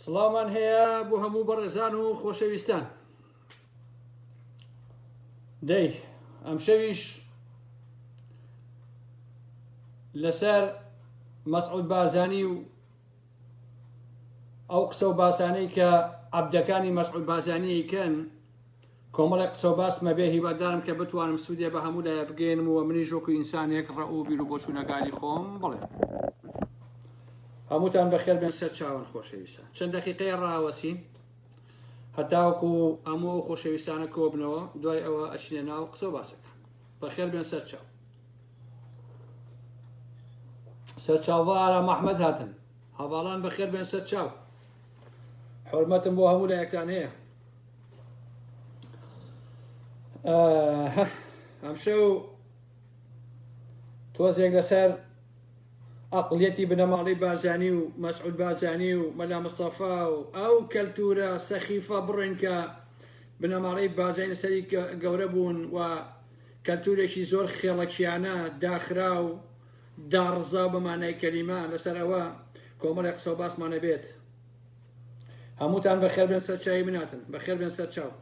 سڵاومان هەیە بۆ هەموو بەڕێزان و خۆشەویستان دەی ئەم شەویش لەسەر مەسعود بازانی و ئەو قسە و باسانەی کە عبدەکانی مەسعود بازانیەکەن کۆمەڵێک قسەو باسم هەبێ هیوادارم کە بتوانم سودێ بە هەموو لایە بگەینم و منیش وەکو ئینسانێک ڕەئ و بیرو بۆچوونەکانی خۆم بڵێم. هەمووتان بەخێر بێن سەرچاوەن خۆشەویستان. چەند دەقیقەیە ڕاوەسین هەتاوەکو هەموو ئەو خۆشەویستانە کۆبنەوە دوای ئەوە ئەچینە ناو قسەو باسەکە. بەخێر بێن سەرچاو. سەرچاوە ئارام ئەحمەد هاتن. هەڤاڵان بەخێر بێن سەرچاو. حورمەتم بۆ هەموو لایەکتان هەیە. ئەمشەو تۆزێک لەسەر ئەقلیەتی بنەماڵی بازانی و مەسعود بازانی و مەلا مستەفا و ئەو کەلتورە سەخیفە بڕێن کە بنەماڵی بازانی سەری گەورە بوون و کەلتورێکی زۆر خێڵەکیانە داخرا و داڕزا و بەمانای کەلیمە لەسەر ئەوە کۆمەڵی قسە و باسمانە بێت هەمووتان بەخێر بێن سەر چاوی من هاتن بەخێر بێن سەر چاو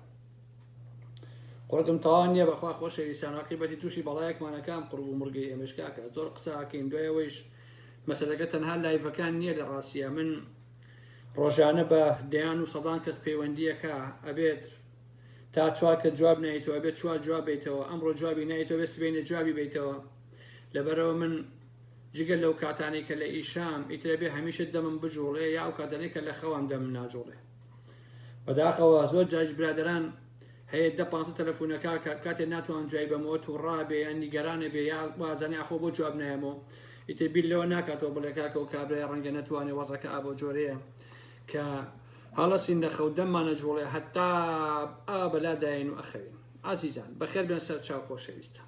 قڕگم تەوا نییە بەخوا خۆشەویستان عقیبەتی تووشی بەڵایەکمانەکان قڕ و مڕگەی ئێمەشکاکە زۆر قساکەین دوایەوەیش مەسەلەکە تەنها لایڤەکان نییە لە ڕاستە من ڕۆژانە بە دەیان و سەدان کەس پەیوەندیەکە ئەبێت تا چوار کە جواب نایتەوە بێت چوار جواب بیتەوە ئەمڕۆ جوابی نایتەوە بێت سبێنێ جوابی بیتەوە لەبەرەوە من جگە لەو کاتانەی کە لە ئیشام، ئیتر ئەبێ هەمیشە دەمم بجوڵێ یا ئەو کاتانەی کە لە خەوام دەمم ناجوڵێ. بەداخەوە زۆر جاریش برادەران هەیە دە پانزە تەلەفونەکا کە کاتێ ناتوان جوای بەمەوە توڕابێ یان نیگەرانەبێ یا وازانێ ئاخۆ بۆ جواب نایەمەوە ئیتر بیر لەوە ناکاتەوە بڵێ کاکە و کابرای ڕەنگە نەتوانێ وەزەکە ئابۆ جۆرەیە کە هەڵەسین لە خەو دەممانە جوڵێ هەتا ئا بەلاداین و ئەخەوین ئازیزان بەخێر بێن سەر چاو خۆشەویستە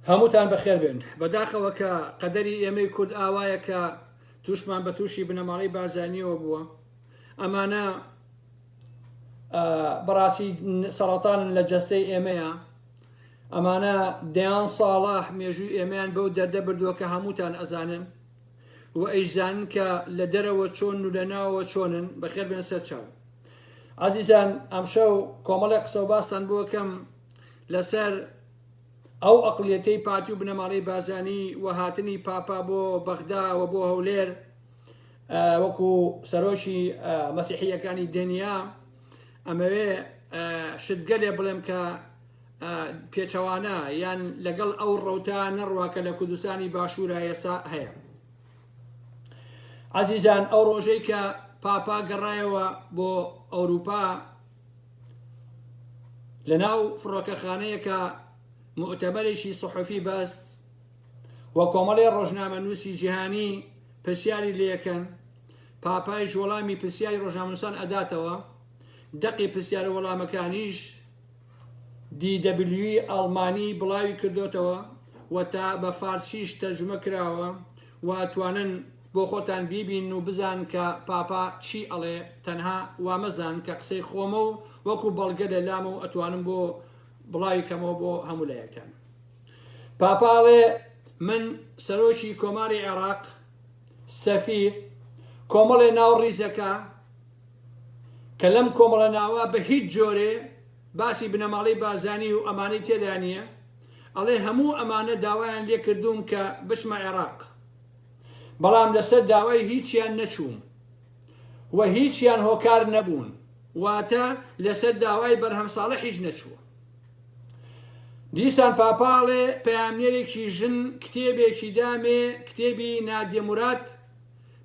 هەمووتان بەخێر بێن بەداخەوە کە قەدەری ئێمەی کورد ئاوایە کە تووشمان بە تووشی بنەماڵی بازانیەوە بووە ئەمانە بەڕاستی سەڵاتان لە جەستەی ئێمەیە ئەمانە دەیان ساڵە مێژووی ئێمەیان بەو دەردە بردووە کە هەمووتان ئەزانن و ئەیشزانن کە لە دەرەوە چۆنن و لە ناوەوە چۆنن، بەخێر بێن سەر چاو. ئازیزان ئەمشەو کۆمەڵێک قسە و باستان بۆ کەم لەسەر ئەو ئەقڵیەتەی پارتی و بنەماڵەی بازانی و هاتنی پاپا بۆ بەغدا و بۆ هەولێر وەکو سەرۆکی مەسیحیەکانی دنیا ئەمەوێ شتگەلێ بڵێم کە پێچەوانە یان لەگەڵ ئەو ڕەوتە نەڕوا کە لە کوردستانی باشوورە ئێسا هەیە عزیزان ئەو ڕۆژەی کە پاپا گەڕایەوە بۆ ئەوروپا لە ناو فڕۆکەخانەیەکە مؤتەبەرێکی سەحفی بەست و کۆمەڵی ڕۆژنامە نووسی جیهانی پرسیاری لەکەن پاپایش وەڵامی پرسیاری ڕۆژنامەنووسان ئەداتەوە دەقی پرسیارە وەڵامەکانیش دی دەبلیوی ئەڵمانی بڵاوی کردۆتەوە و تا بە فارسیش تەرجومە کراوە و توانن بۆ خۆتان بیبینن و بزان کە پاپا چی ئەڵێ تەنها وامەزان کە قسەی خۆمە و وەکو بەڵگە لە لامە و ئەتوانم بۆ بڵاوی کەمەوە بۆ هەموو لایەکتان پاپا ئەڵێ من سەرۆکی کۆماری عێڕاق سەفیر کۆمەڵێ ناو ڕیزەکە کە لەم کۆمەڵە ناوە بە هیچ جۆرێ باسی بنەماڵەی بارزانی و ئەمانەی تێدا نییە، ئەڵێ هەموو ئەمانە داوایان لێ کردووم کە بچمە عێراق، بەڵام لەسەر داوای هیچیان نەچووم و هیچیان هۆکار نەبوون، واتە لەسەر داوای بەرهەم ساڵحیش نەچووە. دیسان پاپاڵێ پەیامنێرێکی ژن کتێبێکی دامێ، کتێبی نادیە موراد،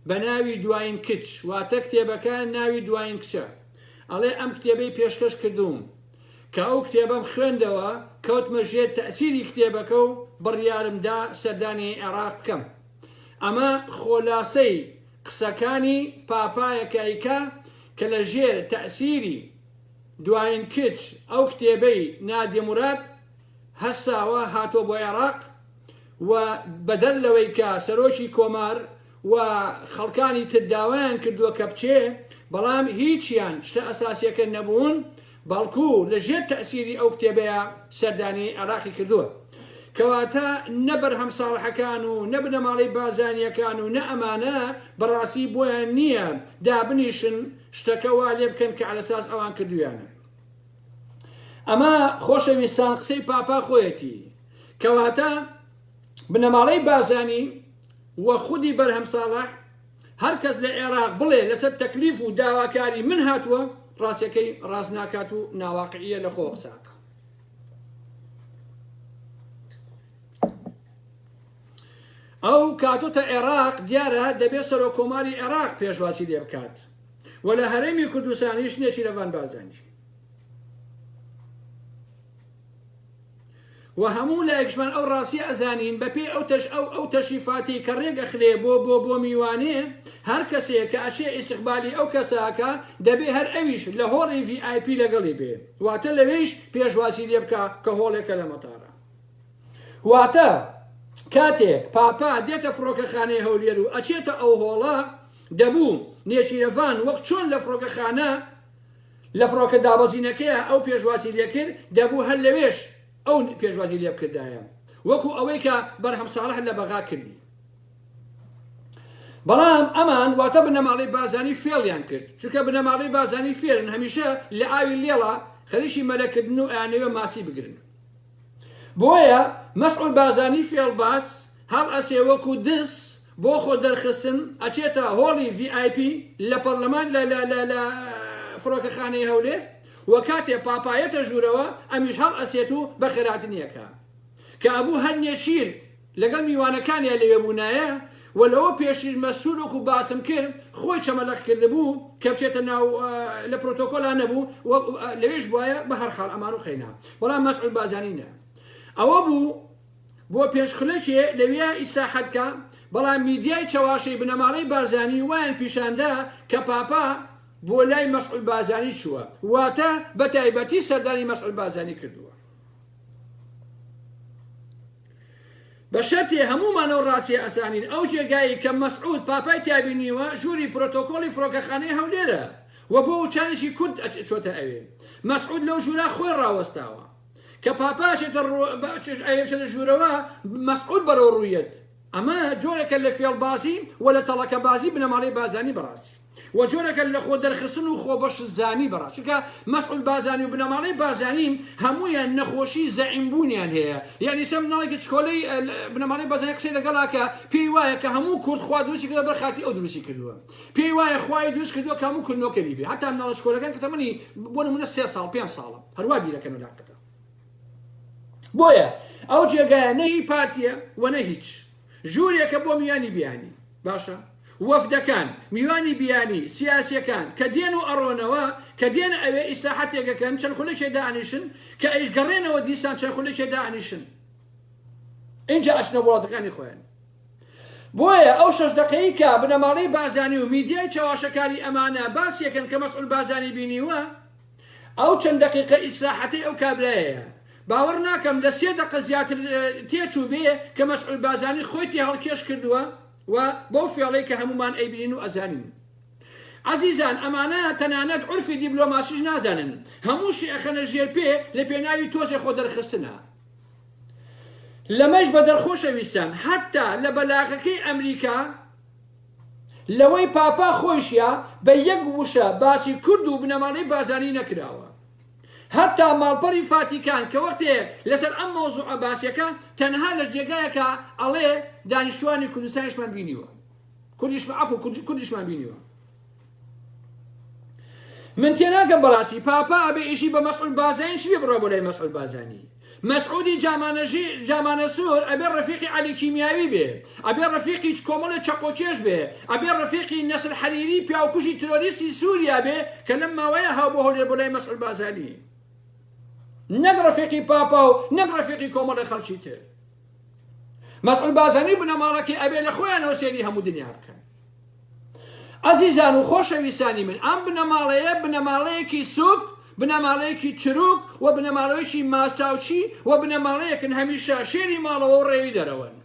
بە ناوی دواین کچ واتە کتێبەکە ناوی دواین کچە ئەڵێ ئەم کتێبەی پێشکەش کردووم کە ئەو کتێبەم خوێندەوە کەوتمە ژێر تەئسیری کتێبەکە و بڕیارم دا سەردانی عێراق بکەم ئەمە خۆلاسەی قسەکانی پاپایە کایکا کە لە ژێر تەئسیری دواین کچ ئەو کتێبەی نادیە موراد هەساوە هاتووە بۆ عێراق و بەدەر لەوەی کە سەرۆکی کۆمار و خەڵکانی تر داوایان کردووە کە بچێ، بەڵام هیچیان شتە ئەساسیەکە نەبوون، بەڵکو لە ژێر تەئسیری ئەو کتێبەیا سەردانی عێراقی کردووە. کەواتە نە بەرهەم ساڵحەکان و نە بنەماڵەی بارزانیەکان و نە ئەمانە بە ڕاستی بۆیان نییە دابنیشن شتەکە وا لێ بکەن کە عەلەساس ئەوان کردوویانە. ئەمە خۆشەویستان قسەی پاپا خۆیەتی. کەواتە بنەماڵەی بارزانی و خودی بەرهەم ساڵح هەر کەس لە عێراق بڵێ لەسەر تەکلیف و داواکاری من هاتووە ڕاستەکەی ڕاست ناکات و ناواقعیە لە خۆ قسە بکە ئەو کاتۆتە عێراق دیارە دەبێت سەرۆک کۆماری عێراق پێشواسی لێ بکات و لە هەرێمی کوردستانیش نێچیرەڤان بازانی وە هەموو لایەکشمان ئەو ڕاستیە ئەزانین بەپێی ئەو تەش ئەو ئەو تەشریفاتەی کە ڕێک ئەخرێ بۆ بۆ بۆ میوانێ هەر کەسێ کە ئەچێ ئیستقبالی ئەو کەسە ئەکا دەبێ هەر ئەویش لە هۆڵی ڤی ئای پی لەگەڵی بێ واتە لەوێیش پێشوازی لێ بکا کە هۆڵێکە لە مەتارا واتە کاتێک پاپا دێتە فڕۆکەخانەی هەولێر و ئەچێتە ئەو هۆڵە دەبوو نێچیرەڤان وەک چۆن لە فڕۆکەخانە لە فڕۆکە دابەزینەکەیا ئەو پێشوازی لێکرد، دەبوو هەر لەوێش ئەو پێشوازی لێبکردایە، وەکو ئەوەی کە بەرهەم ساڵح لە بەغا کردی. بەڵام ئەمان واتە بنەماڵەی بارزانی فێڵیان کرد، چونکە بنەماڵەی بارزانی فێرن هەمیشە لە ئاوی لێڵا خەریکی مەلەکردنن و ئەیانەوێ ماسی بگرن. بۆیە مەسعود بارزانی فێڵباز هەڵئەسێ وەکو دز بۆ خۆ دەرخستن ئەچێتە هۆڵی ڤی ئای پی لە پەڕلەمان لە لە لە لە فڕۆکەخانەی هەولێر و کاتێ پاپایەتە ژورەوە ئەمیش هەڵئەسێت و بەخێراتنی ئەکا کە ئەبوو هەر نێچیر لەگەڵ میوانەکانیا لەوێ بوونایە و لەوە پێشیش مەسرور وەکو باسم کرد خۆی چەمەلەق کردبوو کە بچێتە ناو لە پرۆتۆکۆلا نەبوو و لەوێش بوایە بەهەرحاڵ ئەمان و قەینا بەڵام مەسعود بازانی نە ئەوە بوو بۆ پێنج خولەکێ لەوێ ئیسراحەت کا بەڵام میدیای چەواشەی بنەماڵەی بارزانی وایان پیشاندا کە پاپا بۆ لای مەسعود بازانی چووە واتە بە تایبەتی سەردانی مەسعود بازانی کردووە بە شەرتێ هەموومان ئەو ڕاستیە ئەزانین ئەو جێگایەی کە مەسعود پاپای تیا بینیوە ژووری پرۆتۆکۆڵی فرۆکەخانەی هەولێرە و بۆ وچانێکی کورت چۆتە ئەوێ مەسعود لەو ژوورە خۆی ڕاوەستاوە کە پاپا ئەچێتە ڕوو ئەچێتە ژوورەوە مەسعود بەرەو ڕوویەت ئەمە جۆرێکە لە فێڵبازی و لە تەڵەکەبازی بنەماڵەی بازانی بەڕاستی. و جۆرەکە لە خۆ دەرخستن و خۆ بەش زانی بەڕە چونکە مەسعود بازانی و بنەماڵەی بازانی هەموویان نەخۆشی زەعیم بوونیان هەیە یانی سە مناڵێکی چکۆلەی بنەماڵەی بازانی قسەی لەگەڵا کە پێی وایە کە هەموو کورد خوا دروستی کردە بەر خاتی ئەو دروستی کردووە پێی وایە خوای دروست کردووە کامو کورد نۆکەری بێ هەتا مناڵە چکۆلەکان کە تەمەنی بۆ نمونە سێ ساڵ پێنج ساڵە هەروا بیرەکەن و لاقەتە بۆیە ئەو جێگایە نە هی پارتیە و نە هیچ ژورێکە بۆ میوانی بیانی باشە وەفدەکان میوانی بیانی سیاسیەکان کە دێن و ئەڕۆنەوە کە دێن ئەوێ ئیسراحەتێک ئەکەن چەند خولەکێ دانیشن کە ئەیش گەڕێنەوە دیسان چەند خولەکێ دانیشن ئینجا ئەچنە وڵاتەکانی خۆیان بۆیە ئەو شەش دەقەیی کە بنەماڵەی بازانی و میدیای چەواشەکاری ئەمانە باسیەکەن کە مەسعول بازانی بینیوە ئەو چەند دەقیقە ئیسراحەتەی ئەو کابرایەیە باوەڕ ناکەم لە سێ دەقە زیاتر تێچووبێ کە مەسعود بازانی خۆی تێهەڵکێش کردووە و بەو فێڵەی کە هەموومان ئەیبینین و ئەزانین. عەزیزان ئەمانە تەنانەت عورفی دیبلۆماسیش نازانن هەمووشی ئەخەنە ژێر پێ لە پێناوی تۆزێ خۆ دەرخستنا. لەمەش بەدەر خۆشەویستان حەتتا لە بەلاغەکەی ئەمریکا، لەوەی پاپا خۆیشیا بە یەک وشە باسی کورد و بنەماڵەی بارزانی نەکراوە هەتا ماڵپەڕی فاتیکان کە وەختێ لەسەر ئەم مەوزوعە باسیەکا تەنها لە جێگایەکا ئەڵێ دانیشتوانی کوردستانیشمان بینیوە کوردیشمان عەفو کوردیشمان بینیوە. من تێناگەم بەڕاستی پاپا ئەبێ ئیشی بە مەسعود بازانی چی بێ بڕا بۆ لای مەسعود بازانی مەسعودی جامانەژی جامانە سوور ئەبێ ڕفیقی علی کیمیاوی بێ ئەبێ ڕفیقی کۆمەڵە چەقۆکێش بێ ئەبێ ڕفیقی نەسر حەریری پیاوکوژی ترۆریستی سووریا بێ کە لەم ماوەیە هاو بۆ هەولێر بۆ لای مەسعود بازانی نەک ڕفیقی پاپا و نەک ڕفیقی کۆمەڵە خەڵکی تر مەسعود بازەنی بنەماڵەکەی ئەبێ لە خۆیانەوە سێری هەموو دنیا بکەن ئەزیزان و خۆشەویستانی من ئەم بنەماڵەیە بنەماڵەیەکی سوک بنەماڵەیەکی چروک و بنەماڵەیەکی ماستاوچی و بنەماڵەیەکن هەمیشە شێری ماڵەوە و ڕێوی دەرەوەن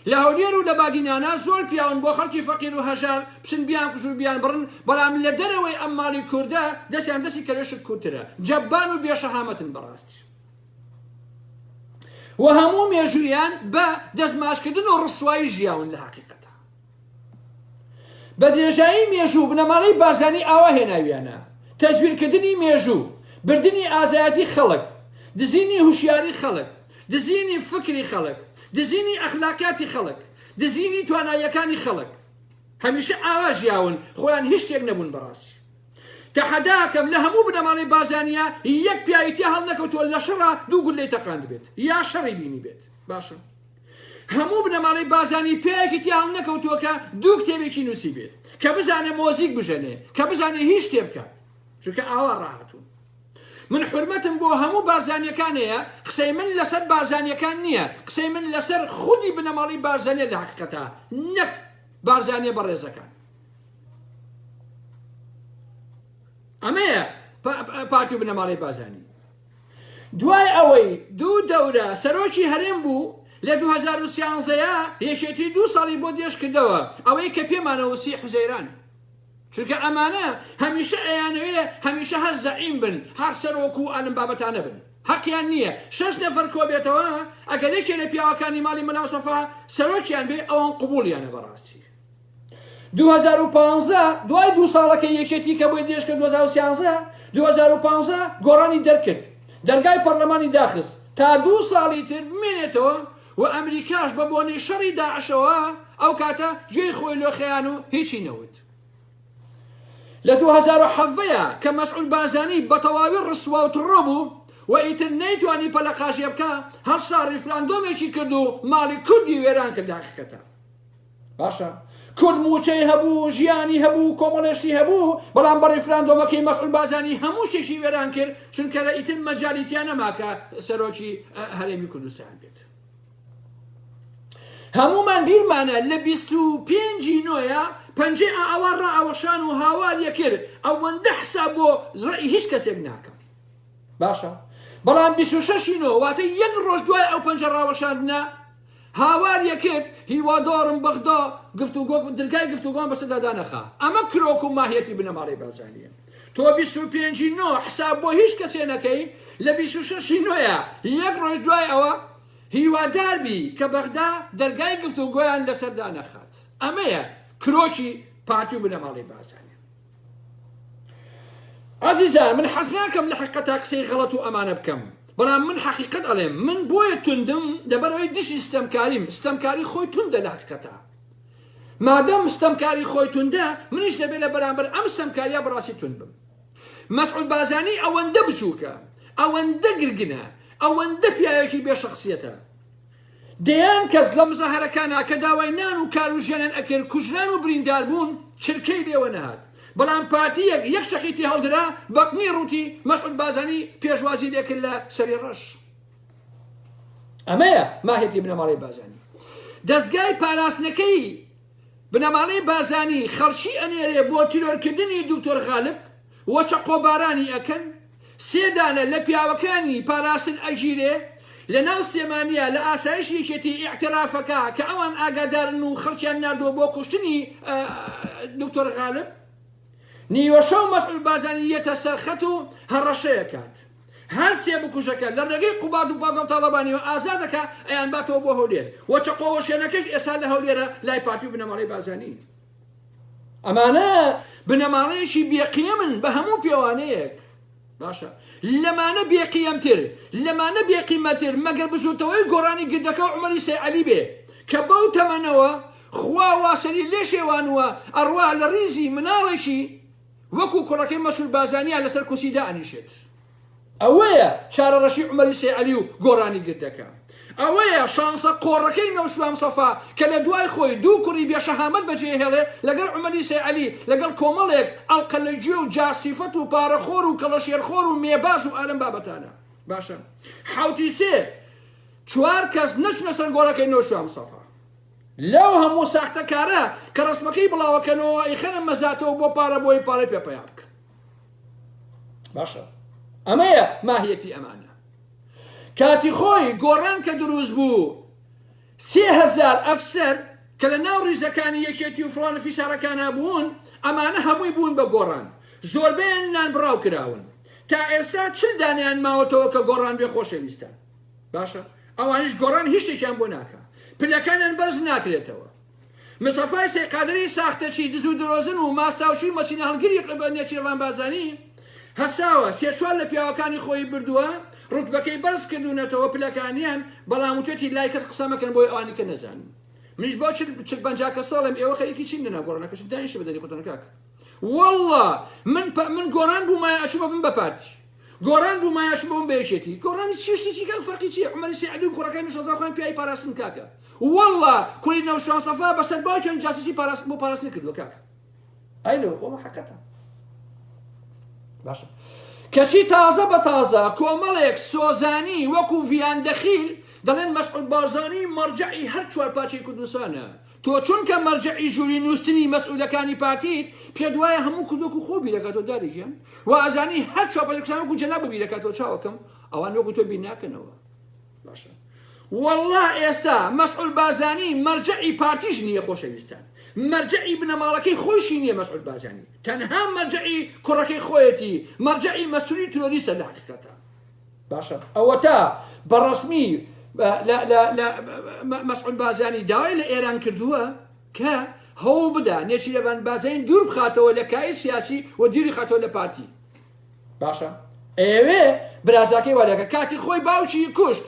لە هەولێر و لە بادینانە زۆر پیاون بۆ خەڵکی فەقیر و هەژار بچن بیان کوژ و بیان بڕن بەڵام لە دەرەوەی ئەم ماڵی کوردە دەستیان دەستی کەلێشک کورترە جەبان و بێشەهامەتن بەڕاستی و هەموو مێژوویان بە دەستماچکردن و ڕسوایی ژیاون لە حقیقەتە بە درێژایی مێژوو بنەماڵەی بارزانی ئاوا هێناویانە تەزویرکردنی مێژوو بردنی ئازایەتی خەڵک دزینی هوشیاری خەڵک دزینی فکری خەڵک دزینی ئەخلاقیاتی خەڵک دزینی تواناییەکانی خەڵک هەمیشە ئاوا ژیاون خۆیان هیچ شتێک نەبوون بەڕاستی تەحەدا ئەکەم لە هەموو بنەماڵەی بارزانیە یەک پیاوی تیا هەڵنەکەوتووە لە شەڕا دوو گوللەی تەقاندبێت یا شەڕی بینیبێت باشە هەموو بنەماڵەی بارزانی پیاوێکی تیا هەڵنەکەوتووە کە دوو کتێبێکی نووسیبێت کە بزانێ مۆزیک بژەنێ کە بزانێ هیچ شتێ بکات چونکە ئاوا ڕاهاتوون من حرمەتم بۆ هەموو بارزانیەکان هەیە قسەی من لەسەر بارزانیەکان نییە قسەی من لەسەر خودی بنەماڵی بارزانە لە حقیقەتە نەک بارزانە بەڕێزەکان ئەمەیە پارتی و بنەماڵەی بازانی دوای ئەوەی دوو دەورە سەرۆکی هەرێم بوو لە 2013ەیە یەکێتی دوو ساڵی بۆ دێش کردەوە ئەوەی کە پێمانەوەسی حوزەیران چونکە ئەمانە هەمیشە ئەیانەوێ هەمیشە هەر زەعیم بن هەر سەرۆک و ئەلم بابەتانە بن حەقیان نییە شش نەفەر کۆبێتەوە ئەگەر یەکێ لە پیاوەکانی ماڵی مەلاوسەفا سەرۆکیان بێ ئەوان قوبولیانە بەڕاستی دوو هەزار و پازدە دوای دوو ساڵەکەی یەکێتی کە بۆی دێشکە دوو هەزار و سیانزە دوو هەزار و پازدە گۆڕانی دەرکرد دەرگای پەڕلەمانی داخست تا دوو ساڵی تر بمێنێتەوە و ئەمریکاش بە بۆنەی شەڕی داعشەوە ئەو کاتە گوێی خۆی لۆ خەیان و هیچی نەوت لە دوو هەزار و حەڤەیە کە مەسعول بازانی بە تەواوی ڕسوا و تڕۆ بوو و ئیتر نەیتوانی پەلە قاژێ بکا هەر سا ڕیفراندۆمێکی کرد و ماڵی کوردی وێران کرد هەقیقەتە باشە کورد موچەی هەبوو ژیانی هەبوو کۆمەڵێ شتی هەبوو بەڵام بە ڕیفراندۆمەکەی مەسعود بارزانی هەموو شتێکی وێران کرد چونکە لە ئیتر مەجالی تیا نەما کە سەرۆکی هەرێمی کوردستان بێت هەمومان بیرمانە لە 25 نۆە پەنجەی ئاوا ڕاوەشان و هاوار یەکرد ئەوەندە حساب بۆ زڕی هیچ کەسێک ناکەم باشە بەڵام 26 نۆ واتە یەک ڕۆژ دوای ئەو پەنجە ڕاوەشاندنە هاوار یەکرد هیوادارم بەغدا گفتوگۆ درگای گفتوگۆمان بەسەردا دانەخا ئەمە کرۆک و ماهیەتی بنەماڵەی بارزانیە تۆ بیست و پێنج ی نۆ حساب بۆ هیچ کەسێ نەکەی لە بیست و شەش ی نۆیە یەک ڕۆژ دوای ئەوە هیوادار بی کە بەغدا دەرگای گفتوگۆیان لەسەر دانەخات ئەمەیە کرۆکی پارتی و بنەماڵەی بارزانی. ئازیزان من حەز ناکەم لە حقەتا قسەی غەڵەت و ئەمانە بکەم بەڵام من حەقیقەت ئەڵێم من بۆیە توندم لەبەرەوەی دژی ستەمکاریم ستەمکاری خۆی توندە لە حقیقەتا مادەم ستەمکاری خۆی توندە منیش دەبێت لە بەرامبەر ئەم ستەمکاریا بەڕاستی توند بم مەسعود بازانی ئەوەندە بچووکە ئەوەندە گرگنە ئەوەندە پیاوێکی بێشەخصیەتە دەیان کەس لە مزاهەرە کاناکە داوای نان و کار و ژیانیان ئەکرد کوژران و بریندار بوون چرکەی لێوە نەهات بەڵام پارتیەک یەک شەقی تێ هەڵدرا بەقنی ڕووتی مەسعود بازانی پێشوازی لێکرد لە سەری ڕەش ئەمەیە ماهێتی بنەماڵەی بازانی دەزگای پاراستنەکەی بنەماڵەی بارزانی خەڵکی ئەنێرێ بۆ تیرۆر کردنی دکتۆر غالب و چەقۆ بارانی ئەکەن سێ دانە لە پیاوەکانی پاراستن ئەگیرێ لە ناو سلێمانیا لە ئاسایش یەکێتی ئیعتراف ئەکا کە ئەوان ئاگادارن و خەڵکیان ناردوە بۆ کوشتنی دکتۆر غالب نیوەشەو مەسعود بارزانی یەتە سەر خەت و هەڕەشەیەکات. هەر سێ بکوژەکە لە ڕێگەی قوباد و پاڤێڵ تاڵەبانیەوە ئازاد دەکا ئەیانباتەوە بۆ هەولێر و چەقۆ وەشێنەکەش ئێستا لە هەولێرە لای پارتی و بنەماڵەی بارزانی. ئەمانە بنەماڵەیەکی بێ قیەمن بە هەموو پێوانەیەک. باشە لەمانە بێ قیەمتر لەمانە بێ قیمەتر مەگەر بزوتەوەی گۆرانی گردەکە و عمەری سەیعەلی بێ کە بەو تەمەنەوە خوا واسەری لێ شێوانوە ئەڕوا لە ڕیزی مناڵێکی وەکو کوڕەکەی مەسرور بازانیان لەسەر کورسی دائەنیشێت. ئەوەیە چارەڕەشی عومەری سەیعەلی و گۆرانی گردەکە. ئەوەیە شانسە قۆڕەکەی نەوشیروان مستەفا کە لە دوای خۆی دوو کوڕی بێ شەهامەت بەجێهێڵێ لەگەڵ عومەری سەیعەلی لەگەڵ کۆمەڵێک ئەڵقە لە گوێ و جا سیفەت و پارەخۆر و کەڵەشێرخۆر و مێباز و ئالەم بابەتانە. باشە حەوتی سێ چوار کەس نەچنە سەر گۆڕەکەی نەوشیروان مستەفا. لەو هەموو ساختە کارە کە ڕەسمەکەی بڵاوەکەنەوە ئەیخەنە مەزاتەوە بۆ پارە بۆی پارەی پێ پەیا بکەن باشە ئەمەیە ماهیەتی ئەمانە کاتی خۆی گۆڕان کە دروست بوو سێ هزار ئەفسەر کە لە ناو ڕیزەکانی یەکێتی و فڵانە فیسارەکانە بوون ئەمانە هەمووی بوون بە گۆڕان زۆربیان نان بڕاو کراون تا ئێستا چل دانیان ماوەتەوە کە گۆڕان بێ خۆشەویستان باشە ئەوانیش گۆڕان هیچ شتێکیان بۆ ناکا پلەکانیان بەرز ناکرێتەوە مسەفای سەی قادری ساختەچی دز و درۆزن و ماستاوچی و مەچینە هەڵگری قبە نێچیرڤان بارزانی هەساوە سێ چوار لە پیاوەکانی خۆی بردووە ڕوتبەکەی بەرز کردوونەتەوە پلەکانیان بەڵام وتێتی لای کەس قسە مەکەن بۆی ئەوانی کە نەزان منیش بۆ چل چل پەنجا کە ساڵم ئێوە خەریکی چین لەنا گۆڕنەکە چ دانیشە بەدەری خۆتان کاک والله من من گۆڕان بوومایە ئەچوومە بم بە پارتی گۆڕان بوو مایاشم بۆم بە یەکێتی گۆڕانی چی شتێکی کەم فەرقی چیە عومەری سەعدی و کوڕەکەی نوشەزا خۆیان پیاوی پاراستن کاکە واللە کوڕی نەوشان سەفا بەسەر باوکیان جاسوسی پاراستن بۆ پاراستن کردووە کاکە ئەی لەوە قۆڵە حەقەتە باشە کەچی تازە بە تازە کۆمەڵێک سۆزانی وەکو ڤیان دەخیل دەڵێن مەسعود بارزانی مەرجعی هەر چوار پاچەی کوردستانە تۆ چونکە مەرجەعی ژووری نووستنی مەسئولەکانی پارتیت پێت وایە هەموو کوردۆک و خۆ بیرەکاتەوە دادە گیان وازانی هەر چاوپەلکسان وەکو جەنابو بیرەکاتەوە چاوەکەم ئەوان وەکو تۆ بیر ناکەنەوە باشە والله ئێستا مەسعول بازانی مەرجعی پارتیش نییە خۆشەویستان مەرجعی بنەماڵەکەی خۆشی نییە مەسعول بازانی تەنها مەرجعی کوڕەکەی خۆیەتی مەرجعی مەسولی ترۆریسە لە حقیقەتە باشە ئەوەتا بەڕەسمی مەسعود بازانی داوای لە ئێران کردووە کە هەوڵ بدا نێچیرەبان بازین دوور بخاتەوە لە کای سیاسی و دیری خاتەوە لە پارتی باشە ئەوێ برازاکەی وادەکە کاتی خۆی باوکی کوشت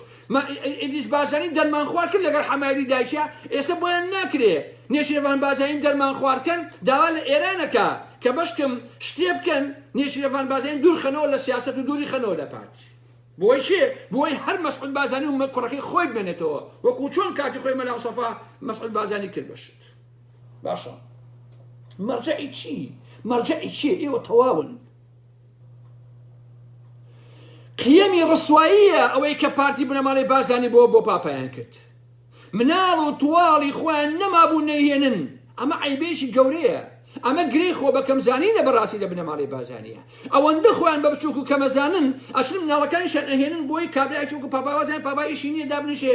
ئیدیس بازانی دەرمان خوارد کرد لەگەر حەمایری دایکە ئێستا بۆیان ناکرێ نێچیرەبان بازین دەرمان خواردکەن داوا لە ئێرانەکە کە بەشکم شتێ بکەن نێچیرەڤان بازێن دوور خەنەوە لە سیاسەت و دووری خەنەوە لە پارتی. بۆی چێ؟ بۆی هەر مەسعود بازانی و کوڕەکەی خۆی بمێنێتەوە وەکو چۆن کاتی خۆی مەلا مستەفا مەسعود بازانی کرد بە شت. باشە مەرجەعی چی؟ مەرجەعی چیە؟ ئێوە تەواون. قیەمی ڕسواییە ئەوەی کە پارتی بنەماڵەی بازانی بۆ بۆ پاپایان کرد. مناڵ و تواڵی خۆیان نەمابوو نەیهێنن ئەمە عەیبێکی گەورەیە ئەمە گرێی خۆ بەکەم زانینە بەڕاستی لە بنەماڵەی بازانیە ئەوەندە خۆیان بە بچوک و کەمەزانن ئەچن مناڵەکانیشیان ئەهێنن بۆی کابرایەکی وەکو پاپا وازیان پاپا ئیشی نیە دابنیشێ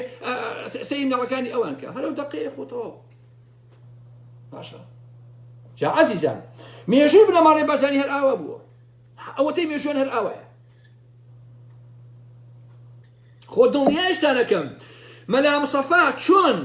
سەیری مناڵەکانی ئەوان کە هەرەو دەقەیە خۆ تەواو باشە جا عەزیزان مێژوی بنەماڵەی بازانی هەر ئاوا بووە ئەوەتەی مێژوان هەر ئاوایە خۆ دڵنیایشتان ئەکەم مەلا مصەفا چۆن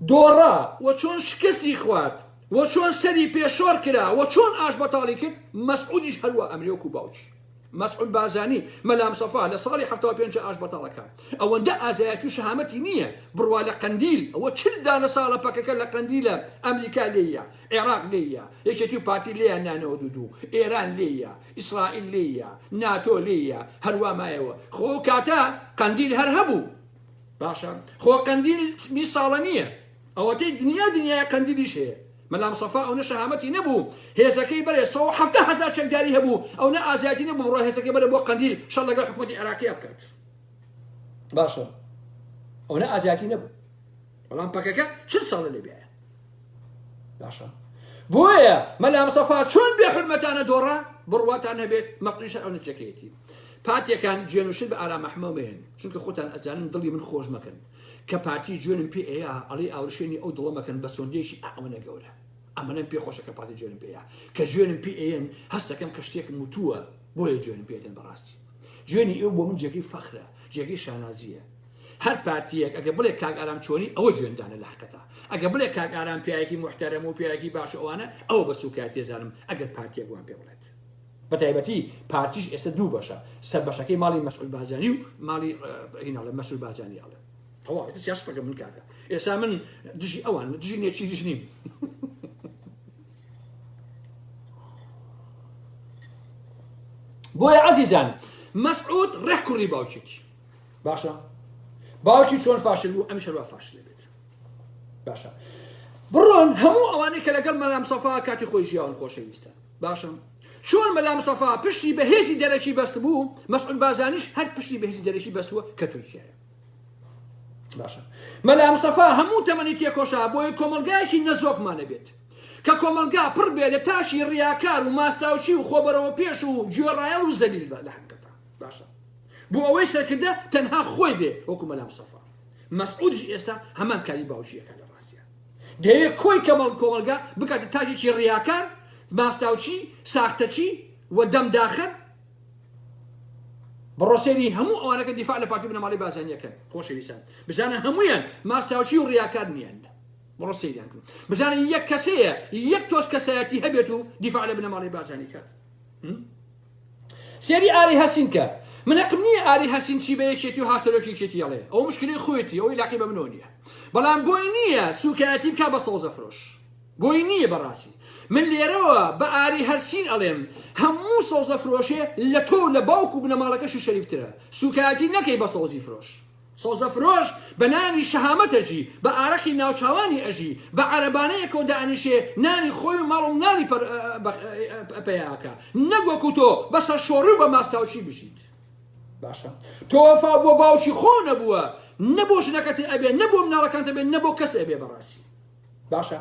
دۆڕا و چۆن شکستی خوارد و چۆن سەری پێ شۆڕ کرا و چۆن ئاشبەتاڵی کرد مەسعودیش هەروا ئەمرێ وەکو باوکی مەسعود بارزانی مەلا مصەفا لە ساڵی هەفتا و پێنج ئاشبەتاڵەکە ئەوەندە ئازایەتی و شەهامەتی نییە بڕوا لە قەندیل ئەوە چل دانە ساڵە پەکەکە لە قەندیلە ئەمریکا لێیە عێراق لێیە یەکێتی و پارتی لێیان نانەوە دوو دوو ئێران لێیە ئیسرائیل لێیە ناتۆ لێیە هەروا مایەوە خۆ ئەو کاتە قەندیل هەر هەبوو باشە خۆ قەندیل بیست ساڵە نییە ئەوەتەی دنیا دنیای قەندیلیش هەیە مەلا مصطفی ئەو نە شەهامەتی نەبوو هێزەکەی بەرێ سەد و حەفتا هەزار چەکداری هەبوو ئەو نە ئازیاتی نەبوو ڕۆ هێزەکەی بەرێ بۆ قەندیل شەڕ لەگەڵ حکومەتی عێراقی بکات باشە ئەو نە ئازیاتی نەبوو بەڵام پەکەکە چل ساڵە لێ بیایە باشە بۆیە مەلا مسەفا چۆن بێ حرمەتانە دۆڕا بڕواتان هەبێت مەقلیش ئەو نەچەکەیەتی پاتەکان جێنوشن بە ئارا مەحمەوەێن چونکە خۆتان ئەزانن دڵی من خۆش مەکەن کە پارتی جوێنم پێ ئەیە ئەڵی ئاورشێنی ئەو دڵەمەکەن بە سۆندێکی ئەوەنە گەورە ئەمەەن پێ خۆشە کە پاتی جوێنم پێەیە کە جوێنم پێ ئەیەن هەستەکەم کە شتێکم وتووە بۆیە جوێنم پێێتن بەڕاستی جوێنی ئێو بۆ من جێگەی فەخرە جێگەی شانازیە هەر پارتیەک ئەگە بڵێ کاک ئارام چۆنی ئەوە جوێندانە لە حقەتا ئەگە بڵێ کاک ئارام پیاەکی محتەرم و پیاەکی باش ئەوانە ئەو بە سوکایەتی زانم ئەگەر پارتیەک وان پێ بڵێت بەتایبەتی پارتیش ئێستا دوو بەشە سەر بەشەکەی ماڵی مەسعود بازانی و ماڵی هیناڵە مەسول بازانی ئاڵێ تەواو سیاستەکە من کاکە ئێستا من دژی ئەوان دژی نێچی دژ نیم بۆیە عزیزان مەسعود ڕێک کوڕی باوکێتی باشە باوکی چۆن فاشل بوو ئەم شەروا فاشلێ بێت باشە بڕۆن هەموو ئەوانەی کە لەگەڵ مەلام سەفا کاتی خۆی ژیاون خۆشەویستە باشم چۆن مەلام سەفا پشتی بەهێزی دەرەکی بەست بوو مەسعود بازانیش هەر پشتی بەهێزی دەرەکی بەستووە کە تورکیایە باشە مەلام سەفا هەموو تەمەنی تێکۆشا بۆیە کۆمەلگایەکی نەزۆکمانە بێت کە کۆمەلگا پڕ بێ لە تاشی ڕیاکار و ماستاوچی و خۆبەرەوە پێش و گوێڕایەڵ و زەلیل بە لە حقت باشە بۆ ئەوەی سەرکردە تەنها خۆی بێ وەکو مەلا مسەفا مەسعودش ئێستا هەمان کاری باوجیەکە لە ڕاستە دەیە کۆی کەمەڵ کۆمەلگا بکاتە تاجێکی ڕیاکار ماستاوچی ساختەچی و دەمداخەر بڕۆسێری هەموو ئەوانەکە دیفاع لە پارتی بنەماڵی بازانیەکەن خۆشەویستان بزانە هەمویان ماستاوچی و ڕیاکار نیان بڕۆ سەیریان کرد بزانە یەک کەسەیە یەک تۆز کەسایەتی هەبێت و دیفاع لە بنەماڵی بازانیکات سێری ئاری هەسین کە. من هەقم نیە ئاری هەسین چی بە یەکێتی و هاوسەرۆکی یەکێتی ئەڵێ ئەوە مشکلەی خۆیەتی ئەو ئیلاقەی بە منەوە نیە بەڵام بۆی نیە سوکایەتی بکا بە سەوزە فرۆش بۆی نیە بەڕاسی من لێرەوە بە ئاری هەرسین ئەڵێم هەموو سەوزە فرۆشێ لە تۆو لە باوک و بنەماڵەکەشی شەریفترە سوکایەتی نەکەی بە سەوزی فرۆش سەوزە فرۆش بە نانی شەهامەت ئەژی، بە ئارەقی ناوچاوانی ئەژی، بە عەرەبانەیەکەوە دەئەنیشێ نانی خۆی و ماڵ و مناڵی پەر پەیا ئەکا، نەک وەکوو تۆ بە سەرشۆڕی و بە ماستاوچی بژیت. باشە تۆ وەفاو بۆ باوکی خۆو نەبووە، نە بۆ ژنەکەت ئەبێ، نە بۆ مناڵەکانت ئەبێ، نە بۆ کەس ئەبێ بەڕاستی. باشە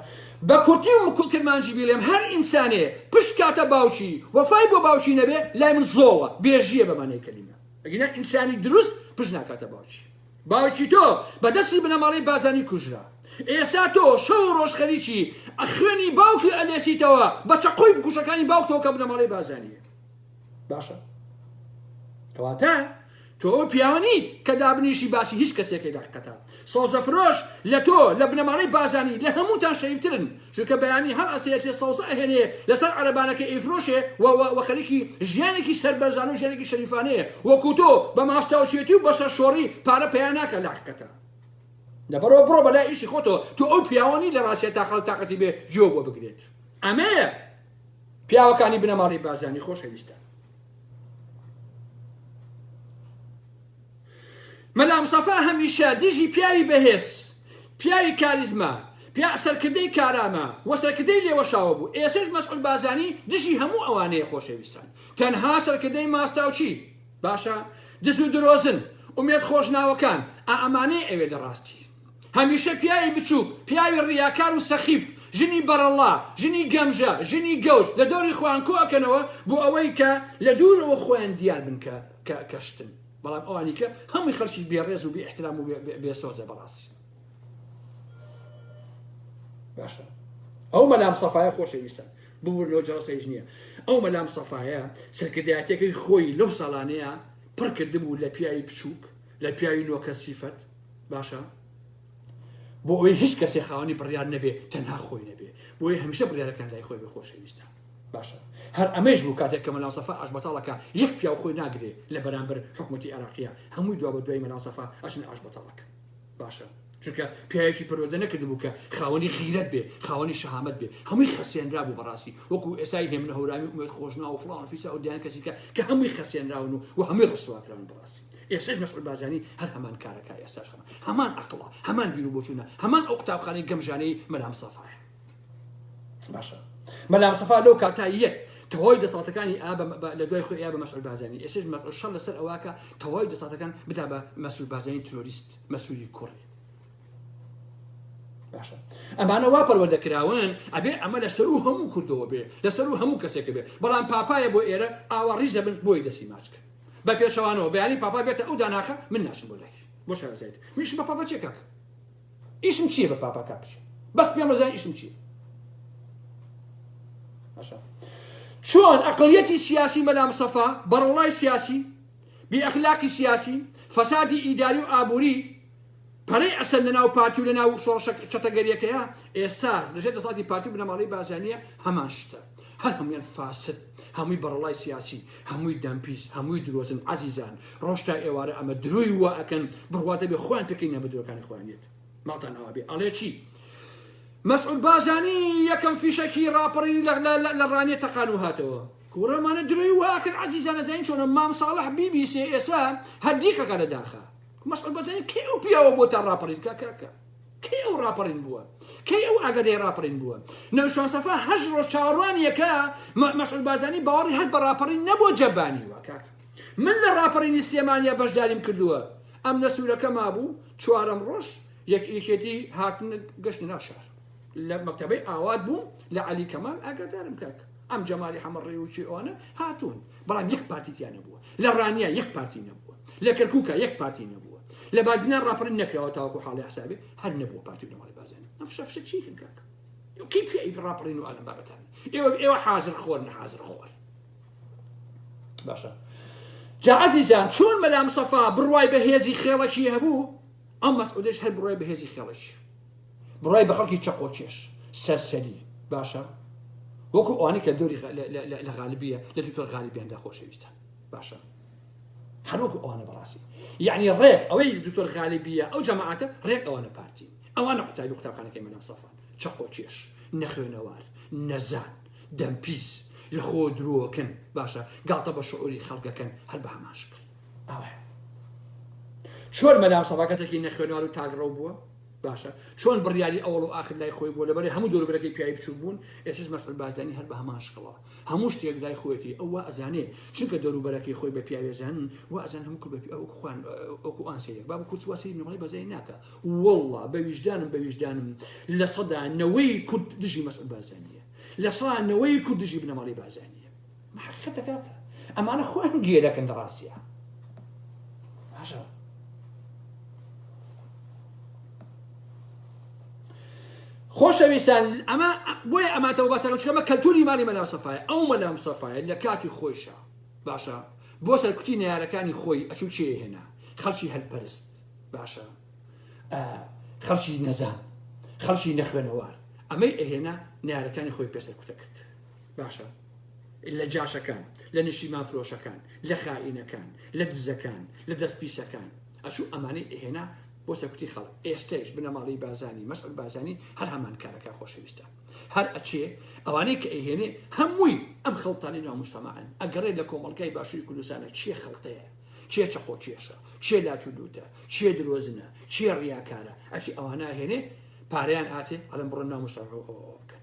بە کورتی و کرمانجی بیڵێم، هەر ئینسانێ پشت کاتە باوکی، وەفای بۆ باوکی نەبێ، لای من زۆڵە، بێژییە بە مانای کەلیمە. ئەگینا ئینسانی دروست پشت ناکاتە باوکی باوکی تۆ بە دەستی بنەماڵەی بازانی کوژرا ئێسا تۆ شەو ڕۆژ خەریکی ئەخوێنی باوکی ئەلێسیتەوە بە چەقۆی بکوشەکانی باوکتەوە کە بنەماڵەی بازانیە باشە کەواتە تۆ ئەو پیاوە نیت کە دابنیشی باسی هیچ کەسێکی دەقەتە سەوزە فرۆش لە تۆ لە بنەماڵەی بازانی لە هەمووتان شەریف ترن چونکە بەیانی هەر ئەسێ ئەچێ سەوزە ئەهێنێ لەسەر عەرەبانەکەی ئەیفرۆشێ و و و خەریکی ژیانێکی سەربەرزانە و ژیانێکی شەریفانەیە وەکو تۆ بە ماستاوچێتی و بەسەر شۆڕی پارە پەیا ناکا لەحقەتە لەبەرەوە بڕۆ بەلا ئیشی خۆتۆ تۆ ئەو پیاوانی لە ڕاستە تا خەڵ تااقەتی بێ جۆ بۆ بگرێت ئەمەیە پیاوەکانی بنەماڵی بازانی خۆشەویستە مەلا مستەفا هەمیشە دژی پیاوی بەهێز، پیاوی کاریزما، پیا سەرکردەی کارامە و سەرکردەی لێوەشاوە بوو، ئێسەش مەسعود بارزانی دژی هەموو ئەوانەیە خۆشەویستان تەنها سەرکردەی ماستاوچی باشە دز و درۆزن ئومێد خۆشناوەکان ئا ئەمانەیە ئەوێ لە ڕاستی هەمیشە پیاوی بچوک پیاوی ڕیاکار و سەخیف ژنی بەڕەڵا ژنی گەمژە ژنی گەوج لە دەوری خۆیان کۆ ئەکەنەوە بۆ ئەوەی کە لە دوورەوە خۆیان دیار بن کە کە کە شتن بەڵام ئەوانی کە هەمووی خەڵکی بێڕێز و بێ احترام و بێسۆزە بەڕاستی باشە ئەو مەلام سەفاایە خۆشەویستن ببوور لەو جەڵسەیش نییە ئەو مەلام سەفاایە سەرکردایەتەکەی خۆی لەو ساڵانەیە پڕکردبوو لە پیاوی بچووک لە پیاوی نۆکە سیفەت باشە بۆ ئەوی هیچ کەسێ خاوەنی بڕیار نەبێ تەنها خۆی نەبێ بۆی هەمیشە بڕیارەکان لای خۆی بە خۆشەویستە باشە هەر ئەمەیش بوو کاتێک کە مەلا سەفا ئاشبەتاڵە کە یەک پیاو خۆی ناگرێ لە بەرامبەر حکومەتی عێراقیە هەمووی دوا بە دوای مەلا سەفا ئەچنە ئاشبەتاڵەکە باشە چونکە پیاوێکی پەرۆدە نەکردبوو کە خاوەنی غیرەت بێ خاوەنی شەهامەت بێ هەمووی خەسێنرا بوو بەڕاستی وەکو ئێسای هێمنە هەورامی و ئومێد خۆشنا و فڵان و فیسا و دیان کەسیکە کە هەمووی خەسێنراون و و هەمووی ڕسواکراون بەڕاستی ئێسش مەسعود بارزانی هەر هەمان کارەکە ئێستاش هەمان هەمان عەقڵە هەمان بیر و بۆچوونە هەمان ئەو قوتابخانەی گەمژانەی مەلا مسافایە باشە مەلا مستەفا لەو کاتا یەک تەواوی دەسەڵاتەکانی ئا لە دوای خۆی ئا بە مەسعود بارزانی ئێسش مەسعود شەڕ لەسەر ئەوەکە تەواوی دەسەڵاتەکان بدا بە مەسعود بارزانی ترۆریست مەسعودی کوڕی باشە ئەمانە وا پەروەردە کراون ئەبێ ئەمە لە سەر و هەموو کردەوە بێ لە سەر و هەموو کەسێک بێ بەڵام پاپایە بۆ ئێرە ئاوا ڕیزە بن بۆی دەستی ماچکە بە پێشەوانەوە بەیانی پاپا بێتە ئەو داناخە من ناشم بۆ لای بۆ شارەزایت منش بە پاپا چێکاکە ئیشم چیە بە پاپا کاک ژیر بەس پێم ڕزان ئیشم چیە باشە چۆن ئەقلیەتی سیاسی مەلا مسەفا بەڕڵای سیاسی بی ئەخلاقی سیاسی فەسادی ئیداری و ئابووری پەرەی ئەسەر لەناو پارتی و لەناو شۆڕشە چەتەگەریەکەیە ئێستا لەژێ دەسەڵاتی پارتی بنەماڵەی بازانیە هەمان شتە هەر هەموویان فاسد هەمووی بەڕەڵای سیاسی هەمووی دەمپیس هەمووی درۆزن عزیزان ڕۆژ تا ئێوارە ئەمە درۆی وا ئەکەن بڕواتە بێ خۆیان پێکەی نە بدرۆکانی خۆیانێت ماڵتان ئەوا بێ ئەڵێ چی مەسعود بازانی یەکەم فیشەکی ڕاپەڕی لە ڕانێ تەقان و هاتەوە کوڕەمانە درۆی واکرد عزیزانە زین چۆنە مام ساڵح بیبیسێ ئێسا هەردیکەکە لە داخە مەسعود بازانی کێ و پیاوە بۆ تا ڕاپەڕی کاکە کەی ئەو ڕاپەڕین بووە؟ کەی ئەو ئاگادەی ڕاپەڕین بووە؟ نەوشان سەفا هەشت ڕۆژ چاوەڕوانی یەکە، مە مەسعود بارزانی باوەڕی هەر بە ڕاپەڕین نەبووە جەبانی وە کاک من لە ڕاپەڕینی سلێمانیا بەشداریم کردووە ئەمنە سوورەکە مابوو چوارەم ڕۆژ یەک یەکێتی هاتنە گەشتنە ناو شار لە مەکتەبەی ئاوات بووم لە عەلی کەمال ئاگادارم کاک ئەم جەمالی حەمە ڕیوکی ئەوانە هاتوون بەڵام یەک پارتی تیا نەبووە لە ڕانیە یەک پارتی نەبووە لە کەرکووکە یەک پارتی نەبووە لە بادینان ڕاپەڕین نەکراوە تاوەکو حاڵی حسابێ هەر نەبووە پارتی و نەماڵی بازانی ئەم فشە فشە چیکن کاکە کی پێی ڕاپەڕین و ئەلم بابەتان ئێوە ئێوە حازر خۆر نە حازر خۆر باشە جا عزیزان چۆن مەلا مصطفی بڕوای بە هێزی خێڵەکی هەبوو ئەم مەسعودش هەر بڕوای بە هێزی خێڵەکی بڕوای بە خەڵکی چەقۆ کێش سەرسەری باشە وەکو ئەوانی کە دەوری لە غالبیە لە دوکتۆر غالیبیاندا خۆشەویستە باشە هەروەکو ئەوانە بەڕاستی یعنی ڕێک ئەوەی دکتۆر غالیبیە ئەو جەماعاتە ڕێک ئەوانە پارتی ئەوانە قوتابی قوتابخانەکەی مەدام سەفا چەقۆ کێش نەخوێنەوار نەزان دەمپیس لە خۆ درۆکن باشە گاڵتە بە شعوری خەڵگەکەن هەر بە هەماشکن ئەوە چۆن مەدام سەفا کەسێکی نەخوێنەوار و تاگڕەو بووە باشە چۆن بڕیاری ئەوەڵ و ئاخر لای خۆی بووە لەبەری هەموو دەوربرەکەی پیاوی بچوک بوون ئێسش مەسعود بارزانی هەر بە هەمان شکڵەوە هەموو شتێک لای خۆیەتی ئەو وا ئەزانێ چونکە دەوروبەرەکەی خۆی بە پیاوێزان و ئەزان هەموو کورد بە ئەو خوان ئەو ئان سەیرێک باب کورد واسی نمەڵی بەزای ناکە والله بە ویژدانم بە ویژدانم لە سەدا نەوەی کورد دژی مەسعود بارزانیە لە سەدا نەوەی کورد دژی بنەماڵەی بارزانیە حەقیقەتە کاکە ئەمانە خۆیان گوێ دەکەن لە ڕاستیە باشە خۆشەویستان ئەمە بۆیە ئەماتەوە باسەکە چکەمە کەلتوری ماڵی مەلام سەفاایە ئەو مەلام سەفاایە لە کاتی خۆیشە باشە بۆ سەرکوتی نارەکانی خۆی ئەچوو کێ هێنا خەڵکی هەلپەرست باشە خەڵکی نەزان خەڵکی نەخوێنەوار ئەمەی ئەهێنا نارەکانی خۆی پێسەر کوتە کرد باشە لە جاشەکان لە نشیمان فرۆشەکان لە خائینەکان لە دزەکان لە دەست پیسەکان ئەچوو ئەمانەی ئەهێنا بۆ سەرکوتی خەڵک ئێستەش بنەماڵی بازانی مەسعود بازانی هەر هەمان کارەکە خۆشەویستە هەر ئەچێ ئەوانەی کە ئەهێنێ هەمووی ئەم خەڵتانی ناو مشتەماعن ئەگەڕێ لە کۆمەڵگای باشووری کوردستانە چیە خەڵتەیە چێ چەقۆ کێشە چێ لاتولوتە چێ درۆزنە چێ ڕیاکارە ئەچی ئەوانە هێنێ پارەیان هاتێ ئەڵم بڕۆ ناو مشتەماعەوە بکەن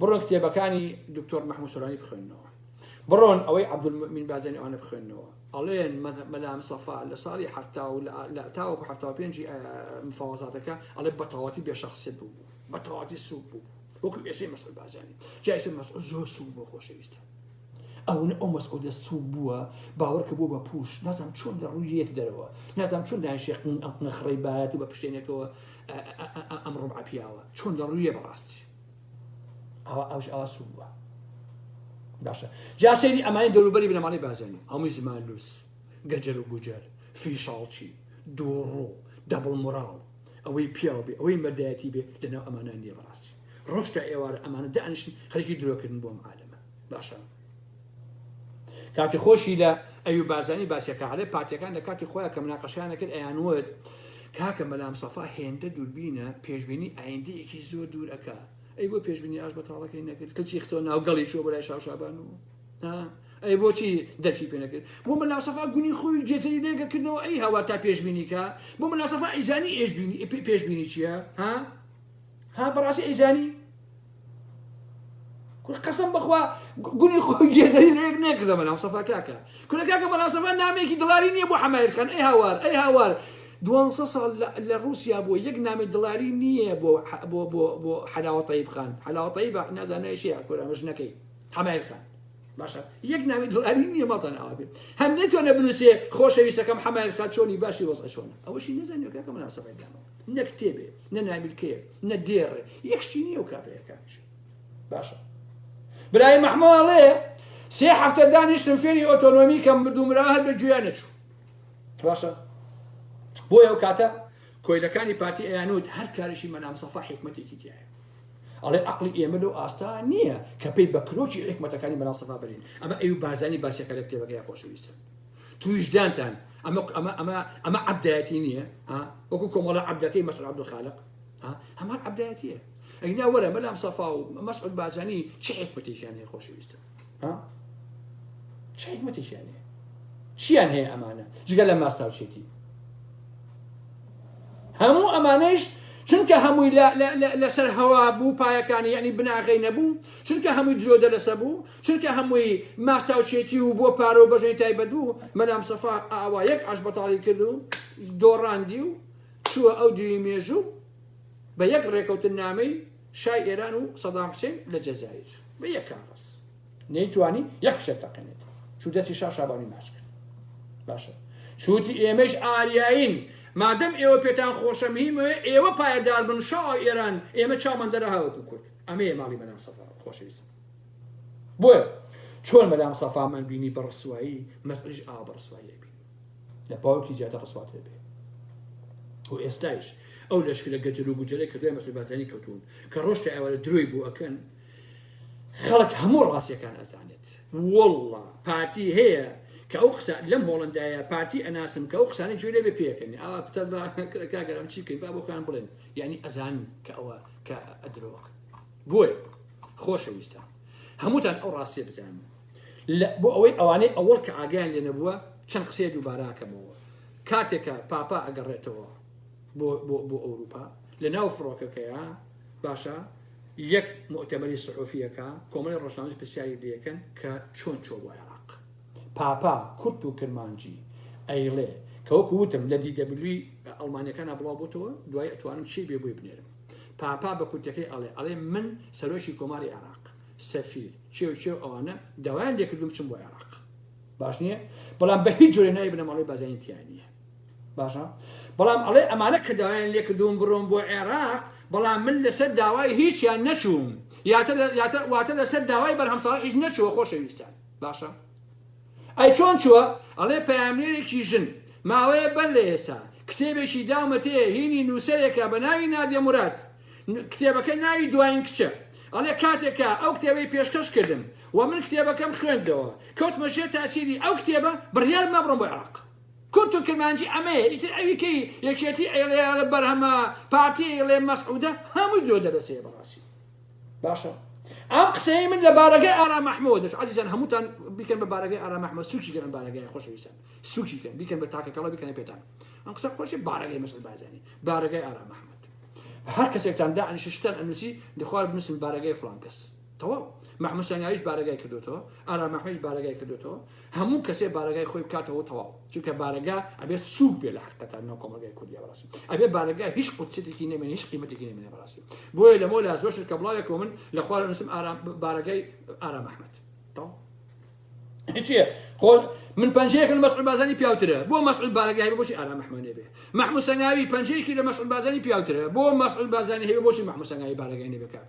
بڕۆن کتێبەکانی دکتۆر محمود سۆرانی بخوێنەوە بڕۆن ئەوەی عبدمین بازێنی ئەوانە بخوێنەوە ئەڵێن مەلام سەفا لە ساڵی ه لە تاوەکو ه پێنج مفاوەزاتەکە ئەڵێ بەتەواتی بێ شخصێت بوو بەتەواتی سوک بوو وەکو ئێسەی مەسعود بازانی جایسە مەسعود زۆر سوک بۆ خۆشەویستە ئەو ئەو مەسعودە سوک بووە باوەڕکە بوو بە پوش نازم چۆن لە ڕوویەت دەرەوە نازم چۆن دانشێ ئەم نەخڕی باەتی بە پشتێنێکەوە ئەم ڕوم عپیاوە چۆن لە ڕوویە بەڕاستی ئەوە ئەوش ئەوە سوود بووە باشە جا سەیری ئەمانی دەوروبەری بنەماڵی بازێنی هەمووی زمانلووس گەجەر و گوجەر فیشاڵچی دووڕوو دەبڵ مراڵ ئەوەی پیاو بێ ئەوەی مەردایەتی بێ لەناو ئەمانان نیە بەڕاستی ڕۆشتە ئێوارە ئەمانە دانیشن خەرکی درۆکردن بۆم عالەمە باشە کاتی خۆشی لە ئەوی بارزانی باسیەکە ئەڵێ پارتیەکان لە کاتی خۆیان کە مناقەشیان دەکرد ئەیان وت کاکە مەلام سەفا هێندە دووربینە پێشبینی ئایندەیەکی زۆر دوور ئەکا ئەی بۆ پێشبینی ئاش بەتاڵەکەی نەکرد کەچی خسۆ ناوگەڵی چوە بەلای شاوشابان و ئەی بۆچی دەرچی پێ نەکرد بۆ مەلاسەفا گونی خۆی گێزەری لێگە کردەوە ئەی هەوا تا پێشبینیکە بۆ مەلاسەفا ئیزانی ئێشبینی پێشبینی چییە ها؟ ها بەڕاستی ئەیزانی کورە قەسەم بەخوا گونی خۆ گێزەری لە یەک نەکردە بەلام سەفا کاکە کورە کاکە بەڵام سەفا نامێکی دڵاری نییە بۆ حەمایر خان ئەی هاوار ئەی هاوار دوانسە ساڵ لە رووسیا بۆ یەک نامی دڵاری نییە بۆ بۆ بۆ بۆ حەلاوەتەی بخان حەلاوەتەی بە نازانایشی کورە مژنەکەی حەمایر خان باشە یەک ناوی دڵاری نییە ماڵتان ئاوا بێت هەم نەتوانە بنووسێ خۆشەویستەکەم حەمایر خان چۆنی باشی وەزە چۆنە ئەوەشی نەزانانی کاکە مناسەبەکانەوە نەکتێبێ نە نامیلکەیەک نە دێڕێ یەکشتی نیە و کابرایەکانش باشە برای مەحماڵێ سێ هەفتە دانیشتم فێری ئۆتۆنۆمی کەم بردو مرا هەر بە گوێیان نەچوو باشە بۆ ئەو کاتە کۆیلەکانی پارتی ئەیانوت هەر کارشی مەنامسەفا حکمەتێکی تایە ئەڵێ عقلی ئێمە لەو ئاستا نییە کە پێی بە کرۆکی حکمەتەکانی مەناسەفا برین ئەمە ئەو بارزانانی باسەکە لە کتێبەکەی خۆشەویستن تویش دانتان ئەمە ئەمە ئەمە ئەمە عبدایەتی نییە وەکو کۆمەڵە عبدەکەی مەسر عبدخالق هەمان عبدایەتیە ئەینا وەرە مەلام سەفا و مەسعود بازانی چ حکمەتێکیان هەیە خۆشەویستە چ حکمەتێکیان هەیە چیان هەیە ئەمانە جگە لە ماستاوچێتی هەموو ئەمانەش چونکە هەمووی لەسەر هەوا بوو پایەکانی یعنی بناغی نەبوو چونکە هەمووی درۆدە لەسە بوو چونکە هەمووی ماستاوچێتی و بۆ پارە و بەژەنی تایبەت بوو، مەلا مستەفا ئاوا یەک ئاشبەتاڵی کرد و دۆڕاندی و چووە ئەو دیوی مێژوو بە یەک ڕێکەوتن نامەی شای ئێران و سەدام حسێن لە جەزایر بە یەک کاغەز نەیتوانی یەک فشەک تەقێنێت چوو دەستی شا شابانی ماچ کرد باشە چووتی ئێمەش ئاریایین مادەم ئێوە پێتان خۆشە مهمەوە ئێوە پایەدار بن شا ئێران ئێمە چامان دەرە هاوکو کورد ئەمەیە ماڵی بەنام سەفا خۆشەویست بۆیە چۆن مەلا مستەفا مان بینی بە ڕسوایی مەسعودیش ئاوا بە ڕسوایی ئەبین لە پاوکی زیاتر ڕسواتر بێ و ئێستایش ئەو لەشکرە گەجەر و گوجەرە کە دوای مەسعود بارزانی کەوتون کە ڕۆشتە ئەوە لە درۆی بۆ ئەکەن خەڵک هەموو ڕاستیەکان ئەزانێت والله پارتی هەیە کە ئەو قسە لەم هۆڵندایە پارتی ئەناسم کە ئەو قسانە جوێ لێ بێ پێکەنی ئاوا پتە بە کرەکە گەرم چی بکەین با بۆ خۆیان بڵێن یعنی ئەزان کە ئەوە کە ئەدرۆک بۆیە خۆشەویستان هەمووتان ئەو ڕاستیە بزانن بۆ ئەوەی ئەوانەی ئەوەڵ کە ئاگیان لێ نەبووە چەند قسەیە دووباراکەمەوە کاتێکە پاپا ئەگەڕێتەوە بۆ ئەوروپا لە ناو فڕۆکەکەیە باشە یەک مؤتەمەری سحۆفیەکە کۆمەڵی ڕۆژنامەز پرسیاری لەکەن کە چۆن چۆ بۆ عێراق پاپا کورت و کرمانجی ئەیڵێ کەوەکو وتم لە دیدەبلوی ئەڵمانەکانە بڵاو بۆتەوە دوای ئەتوانم چی بێ بۆی بنێرم پاپا بە کورتەکەی ئەڵێ ئەڵێ من سەرۆکی کۆماری عێراق سەفیر چێو چێو ئەوانە داوایان لێکردوم بچم بۆ عێراق باش نییە بەڵام بە هیچ جۆرە ناوی بنەماڵەی بازین تیا نییە باشە بەڵام ئەڵێ ئەمانە کە داوایان لێکردوم بڕۆم بۆ عێراق بەڵام من لەسەر داوای هیچیان نەچووم یاتە واتە لەسەر داوای بەرهەمساڵ هیچ نەچووە خۆشەویستان باشە ئەی چۆن چووە؟ ئەڵێ پەیامنێرێکی ژن، ماوەیە بەر لە ئێسا، کتێبێکی داومەتێ، هینی نووسەرێکە بە ناوی نادیە موراد، کتێبەکە ناوی دواین کچە، ئەڵێ کاتێک کە ئەو کتێبەی پێشکەش کردم و من کتێبەکەم خوێندەوە، کەوتمە ژێر تاسیری ئەو کتێبە، بڕیارم دا بڕۆم بۆ عێراق. کورد و کرمانجی ئەمەیە، ئیتر ئەوی کەی یەکێتی ئەیڵێ، بەرهەمە، پارتی ئەیڵێ، مەسعودە، هەمووی درۆ دەلەسەیە بەڕاستی. باشە ئەم قسەی من لە بارەگای ئارام ئەحمەوە دەش عزیزان هەمووتان بیکەن بە بارەگای ئارام ئەحمە سوکی گەن بارەگای خۆشەویستان سوکی کەن بیکەن بە تاکە کەڵە بیکەنە پێتان ئەم قسە خۆشی بارەگای مەسل بازانی بارەگای ئارام ئەحمد هەر کەسێکتان دا ئەنیشتان ئەنووسی دخوار بنووسن بارەگای فلان کەس تەواو محموسانگاویش بارەگای کردوێتەوە ئارامەحمەش بارەگای کردوێتەوە هەموو کەسێ بارەگای خۆی بکاتەوەو تەواو چونکە بارەگا ئەبێت سوک بێ لە حقیقەتان ناو کۆمەلگای کوردیا بەراسی ئەبێ بارەگا هیچ قودسیتێکی نەمێنێ هیچ قیمەتێکی نەمێنێ بەراسی بۆیە لەمەو لا زۆر شت کە بڵاوێکەوە من لە خوارە نوسم ئارام بارەگای ئارام ئەحمەد چیە خۆ من پنجەیەکن مەسعود بازانی پیاوترە بۆ مەسعود بارەگای بۆ بۆشی ئارام محمد نەبێ محمود سەنگاوی پنجەیەکی لە مەسعود بازانی پیاوترە بۆ مەسعود بازانی هەیە بۆشی محمود سەنگاوی بارەگای نەبێ کاک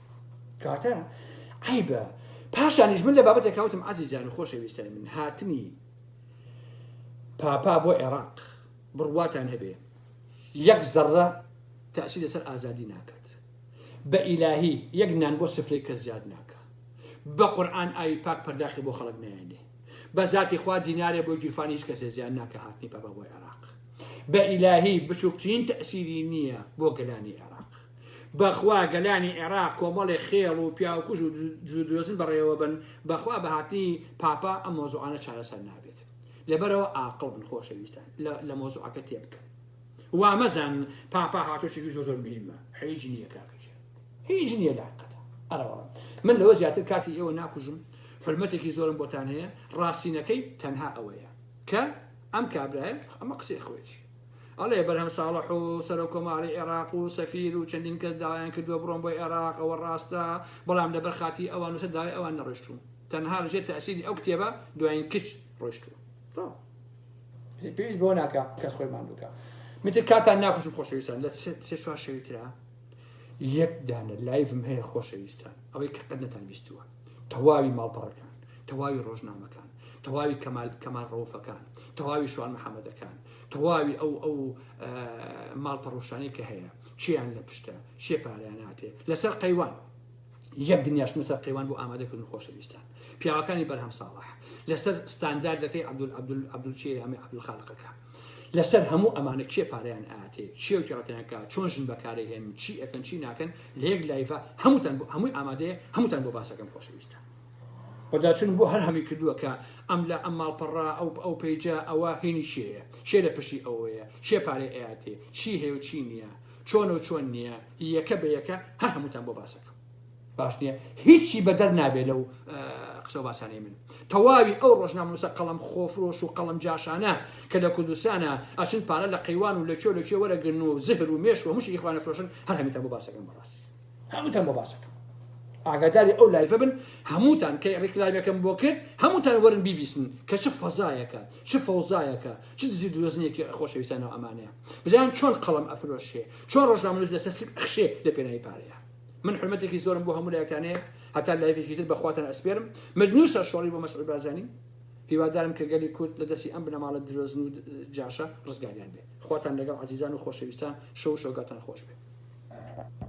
کاتە عیبە پاشانیش من لە بابەتێک کەوتم عزیزان و خۆشەویستانی من هاتنی پاپا بۆ عێراق بڕواتان هەبێ یەک زەڕە تاسی لەسەر ئازادی ناکات بە ئیلاهی یەک نان بۆ سفرەی کەس زیاد ناکە بە قورآن ئاوی پاک پەرداخی بۆ خەڵک نایێنێ بە زاتی خوا دینارێ بۆ گیرفانی هیچ کەسێ زیان ناکە هاتنی پاپا بۆ عێراق بە ئیلاهی بچووکترین تەسیری نییە بۆ گەلانی عێراق بەخوا گەلانی عێراق کۆمەڵێ خێڵ و پیاوکوژ و دزودۆزن بەڕێوەبەن بەخوا بەهاتنی پاپا ئەم مەوزوعانە چارەسەر نابێت لەبەرئەوە ئاقڵ بن خۆشەویستان لەمەوزوعەکە تێبکەن وامەزانن پاپا هاتۆچێکی زۆر زۆر مهمە حیج نییە کاکە گیان هیچ نییە لاقەتە ئەرەوە من لەوە زیاتر کاتی ئێوە ناکوژم حرمەتێکی زۆرم بۆتان هەیە ڕاستینەکەی تەنها ئەوەیە کە ئەم کابرایە ئەمە قسەی خۆێتی ئەڵێ بەرهەم ساڵح و سەرۆک کۆماری عێراق و سەفیر و چەندین کەس داوایان کردووە بڕۆن بۆ عێراق ئەوە ڕاستە بەڵام لەبەر خاتری ئەوان و سەر داوای ئەوان نەڕۆیشتوون تەنها لەژێر تەئسیری ئەو کتێبە دواین کچ ڕۆیشتوون تۆ ئیتر پێویست بەوە ناکا کەس خۆی ماندووکە من تر کاتان ناکوشم خۆشەویستان لە سێ چوار شەوی ترا یەک دانە لایڤم هەیە خۆشەویستان ئەوەی کە قەت نەتان بیستووە تەواوی ماڵپەڕەکان، تەواوی ڕۆژنامەکان، تەواوی کەمال کەمال ڕەوفەکان، تەواوی شوان محەمەدەکان، تەواوی ئەو ئەو ماڵپەڕوشانەی کە هەیە چیان لە پشتە شێ پاریان هاتێ لەسەر قەیوان یەک دنیاشمە سەر قەیوان بۆ ئامادەکردن خۆشەویستان پیاوەکانی بەرهەم ساڵح لەسەر ستانداردەکەی عبدول عبدول عبدول چی ئەمە عبدول خالقەکە لەسەر هەموو ئەمانە کێ پارەیان ئااتێ چێوکی ڕەتیانکە چۆن ژن بەکارەهێن چی ئەەکەن چی ناکەن لە یەک لایڤە هەمووتان بۆ هەمووی ئامادەیە هەمووتان بۆ باسەکەم خۆشەویستە بەداچون بۆ هەر هەمی کردووە کە ئەم لە ئەم ماڵپەڕا ئەو ئەو پیجە ئەوە هینی شێە شێ لە پشتی ئەوەیە شێ پارێ ئەیاتێ چی هەیە و چی نییە چۆن و چۆن نییە یەکە بە یەکە هەر هەمووتان بۆ باسەکەم باش نییە هیچی بەدەر نابێ لەو قسە باسانەی من تەواوی ئەو ڕۆژنامەنووسە قەڵەم خۆفرۆش و قەڵەم جاشانە کە لە کوردستانا ئەچن پارە لە قەیوان و لە کوێ لە کوێ وەرەگرن و زهر و مێشک و مشک ئیخوان ئەفرۆشن هەر هەمووتان بۆ باسەکەم بەڕاستی هەمووتان بۆ باسەکەم ئاگاداری ئەو لایڤە بن هەمووتان کە ڕیکلایمەکەم بۆ کرد هەمووتان وەرن بیبیسن کە چ فەزایەکە چ فەوزایەکە چ دزی درۆزنێکی خۆشەویستانەوە ئەمانەیە بزان چۆن قەڵەم ئەفرۆشێ چۆن ڕۆژنامەنووس لەسەر سک ئەخشێ لە پێناوی پارەیە من حورمەتێکی زۆرم بۆ هەموو لایەکتان هەیە هەتا لایڤێکی تر بە خواتان ئەسپێرم مردن و سەرشۆڕی بۆ مەسعود بارزانی هیوادارم کە گەلی کورد لە دەستی ئەم بنەماڵە درۆزن و جاشە ڕزگاریان بێ خواتان لەگەڵ عەزیزان و خۆشەویستان شەو و شەوگاتان خۆش بێ